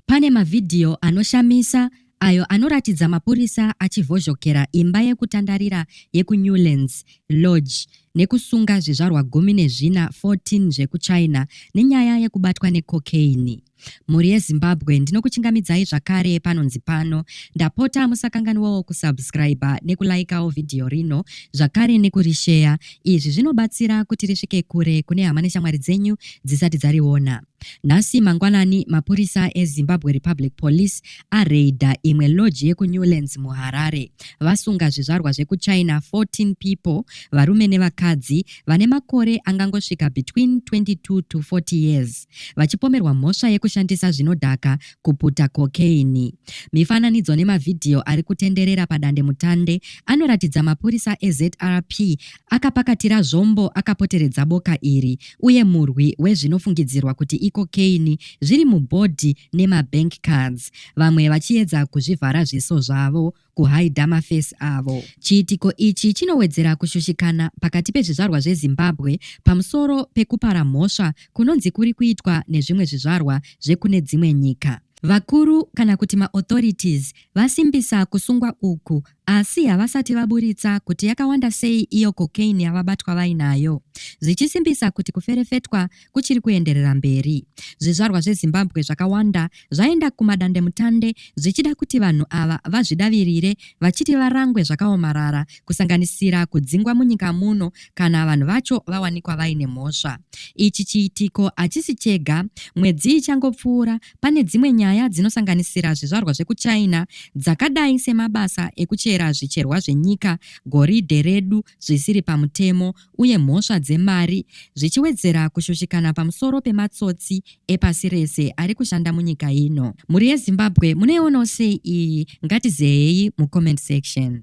Pane mavhidhiyo anoshamisa ayo anoratidza mapurisa achivhozhokera imba yekutandarira yekuNewlands Lodge nekusunga zvizvarwa gumi nezvina, 14, zvekuChina nenyaya yekubatwa necocaine. Mhuri yeZimbabwe ndinokuchingamidzai zvakare panonzi pano. Ndapota musakanganwawo kusubscriber nekulaikawo vhidhiyo rino zvakare nekurisheya. Izvi zvinobatsira kuti risvike kure kune hama neshamwari dzenyu dzisati dzariona. Nhasi mangwanani mapurisa eZimbabwe Republic Police areidha imwe lodge yekuNewlands muHarare vasunga zvizvarwa zvekuChina 14 people varume nevakadzi vane makore angangosvika between 22 to 40 years vachipomerwa mhosva yekushandisa zvinodhaka kuputa kokeini. Mifananidzo nemavhidhiyo ari kutenderera padandemutande anoratidza mapurisa eZRP Akapakatira zvombo akapoteredza boka iri uye murwi wezvinofungidzirwa kuti ikokeini zviri mubhodhi nemabank cards, vamwe vachiedza kuzvivhara zviso zvavo kuhaidha mafesi avo. Chiitiko ichi chinowedzera kushushikana pakati pezvizvarwa zveZimbabwe pamusoro pekupara mhosva kunonzi kuri kuitwa nezvimwe zvizvarwa zvekune dzimwe nyika. Vakuru kana kuti maauthorities vasimbisa kusungwa uku Asi havasati vaburitsa kuti yakawanda sei iyo cocaine yavabatwa vainayo, zvichisimbisa kuti kuferefetwa kuchiri kuenderera mberi. Zvizvarwa zveZimbabwe zvakawanda zvaenda kumadandemutande zvichida kuti vanhu ava vazvidavirire vachiti varangwe zvakaomarara, kusanganisira kudzingwa munyika muno kana vanhu vacho vawanikwa vaine mhosva. Ichi chiitiko hachisi chega. Mwedzi ichangopfuura, Pane dzimwe nyaya dzinosanganisira zvizvarwa zvekuChina dzakadai semabasa ekuchera zvicherwa zvenyika, goridhe redu zvisiri pamutemo uye mhosva dzemari, zvichiwedzera kushushikana pamusoro pematsotsi epasi rese ari kushanda munyika ino. Mhuri yeZimbabwe munoionawo sei iyi? Ngatizeyeyi mucomment section.